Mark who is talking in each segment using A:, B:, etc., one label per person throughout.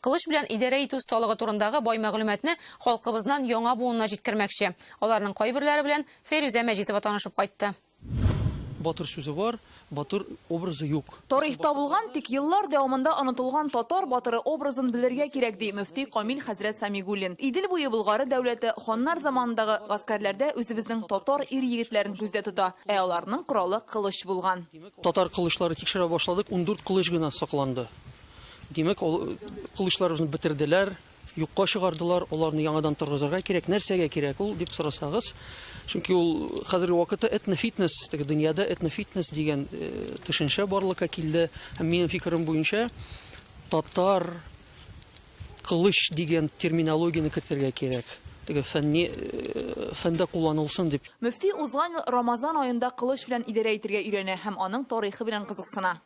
A: Кылыч белән идарә итү осталыгы турындагы бай мәгълүматны халкыбызнан яңа буынына җиткермәкче. Аларның кайберләре белән Фәйрүзә Мәҗитова танышып кайтты. Батыр
B: сүзе бар, батыр образы юк. Тарихта булган, тик
C: еллар дәвамында онытылган татар батыры образын белергә кирәк, ди мөфти Камил хәзрәт Самигуллин. Идел буе Болгары дәүләте ханнар заманындагы гаскәрләрдә үзебезнең татар ир-егетләрен күздә тота, ә аларның коралы кылыч булган. Татар кылычлары
B: тикшерә башладык, ундүрт кылыч гына сакланды. Димәк, ул кылычларыбызны бетерделәр, юкка чыгардылар, аларны яңадан торгызырга кирәк. Нәрсәгә кирәк ул дип сорасагыз, чөнки ул хәзерге вакытта этнофитнес, теге дөньяда этнофитнес дигән э, төшенчә барлыкка килде. Һәм минем фикерем буенча, татар кылыч дигән терминологияне кертергә кирәк. Теге фәнни э, фәндә кулланылсын дип. Мөфти узган ел
C: Рамазан аенда кылыч белән идарә итергә өйрәнә һәм аның тарихы белән кызыксына.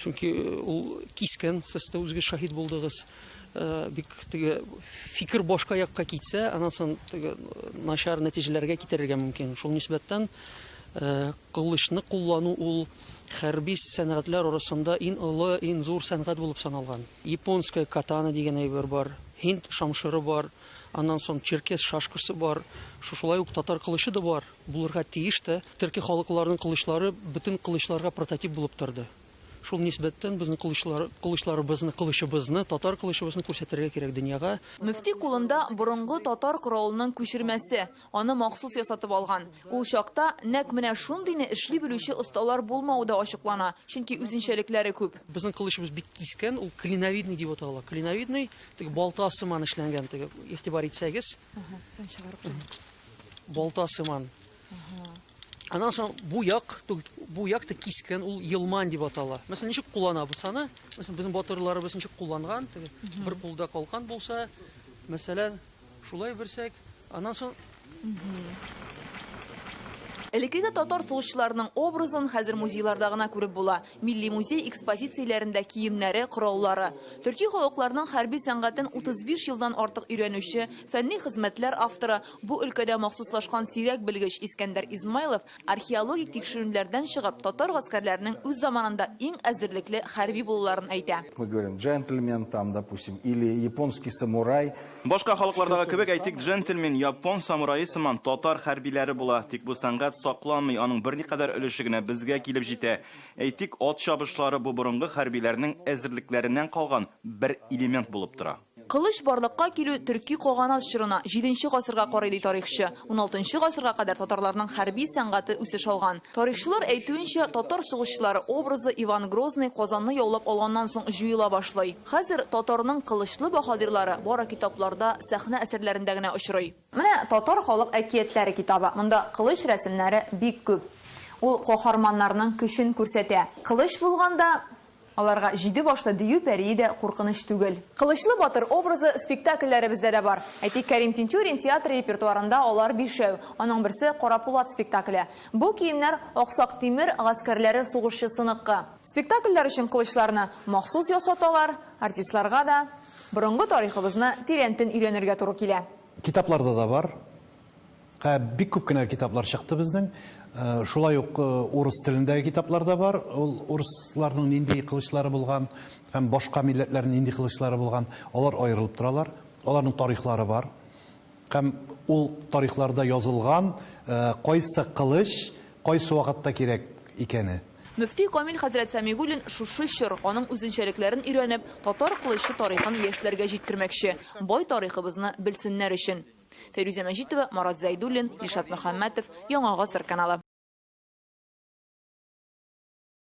B: чөнки ул кискен сез дә үзегез шаһит булдыгыз Э, бик теге фикер башка якка китсә анан соң теге э, начар нәтиҗәләргә китерергә мөмкин шул нисбәттән э, кылычны куллану ул хәрби сәнгатьләр арасында иң олы иң зур сәнгать булып саналган японская катана дигән әйбер бар һинд шамшыры бар аннан соң черкес шашкасы бар шушылай ук татар кылычы да бар Булырга тиеш тә. Төрки халыкларның кылычлары бөтен кылычларга прототип булып торды. Шул нисбәттән безнең кылычлар, кылычларыбызны, кылычыбызны, татар кылычыбызны күрсәтергә кирәк дөньяга. Мөфти кулында
C: борынгы татар коралының күчермәсе, аны махсус ясатып алган. Ул чакта нәкъ менә шундыйны эшли белүче осталар булмавы да ачыклана, чөнки үзенчәлекләре күп. Безнең кылычыбыз бик
B: кискен, ул клиновидный дип атала. Клиновидный, теге балта сыман эшләнгән, теге, игътибар итсәгез. Ага, сан чыгарып тор. Балта сыман. Аннан соң бу як, бу як та кискен, ул елман дип атала. Мәсәлән, ничек кулланабыз аны? Мәсәлән, безнең батырларыбыз ничек кулланган? Бер кулда калкан булса, мәсәлән, шулай берсәк, аннан соң
C: Элеккеге татар сугышчыларының образын хәзер музейларда гына күреп була. Милли музей экспозицияләрендә киемнәре, кораллары, төрки халыкларның хәрби сәнгатен 35 елдан артык өйрәнүче, фәнни хезмәтләр авторы, бу өлкәдә махсуслашкан сирәк белгеч Искәндәр Измайлов археологик тикшеренүләрдән чыгып, татар гаскәрләренең үз заманында иң әзерлекле хәрби булуларын әйтә. Мы говорим джентльмен
D: там, допустим, или японский самурай. Башка халыклардагы
E: кебек, әйтик, джентльмен, япон самурае сыман татар хәрбиләре була. Тик бу сәнгать сакланмый, аның берникадәр өлеше генә безгә килеп җитә. Әйтик, ат чабышлары бу борынгы хәрбиләрнең әзерлекләреннән калган бер элемент булып тора. Кылыч барлыкка
C: килү төрки каганат чорына, җиденче гасырга карый, ди тарихчы. Уналтынчы гасырга кадәр татарларның хәрби сәнгате үсеш алган. Тарихчылар әйтүенчә, татар сугышчылары образы Иван Грозный Казанны яулап алганнан соң җуела башлый. Хәзер татарның кылычлы баһадирлары бары китапларда, сәхнә әсәрләрендә генә очрый. Менә Татар халык әкиятләре китабы. Монда кылыч рәсемнәре бик күп. Ул каһарманнарның көчен күрсәтә. Кылыч булганда, аларга җиде башлы дию пәрие дә куркыныч түгел. Кылычлы батыр образы спектакльләребездә дә бар. Әйтик, Кәрим Тинчурин театры репертуарында алар бишәү. Аның берсе, Карапулат спектакле. Бу киемнәр Аксак Тимер гаскәрләре сугышчысыныкы. Спектакльләр өчен кылычларны махсус ясаталар, артистларга да борынгы тарихыбызны тирәнтен өйрәнергә туры килә. Китапларда да бар.
F: Ә бик күп кенә китаплар чыкты безнең. Шулай ук урыс телендәге китаплар да бар. Ул урысларның нинди кылычлары булган һәм башка милләтләрнең нинди кылычлары булган, алар аерылып торалар. Аларның тарихлары бар. Һәм ул тарихларда язылган, кайсы кылыч кайсы вакытта кирәк икәне. Мөфти Камил
C: хәзрәт Сәмигуллин шушы чор, аның үзенчәлекләрен өйрәнеп, татар кылычы тарихын яшьләргә җиткермәкче, бай тарихыбызны белсеннәр өчен. Фәйрүзә Мәҗитова, Марат Зәйдуллин, Илшат Мөхәммәтов, Яңа гасыр каналы.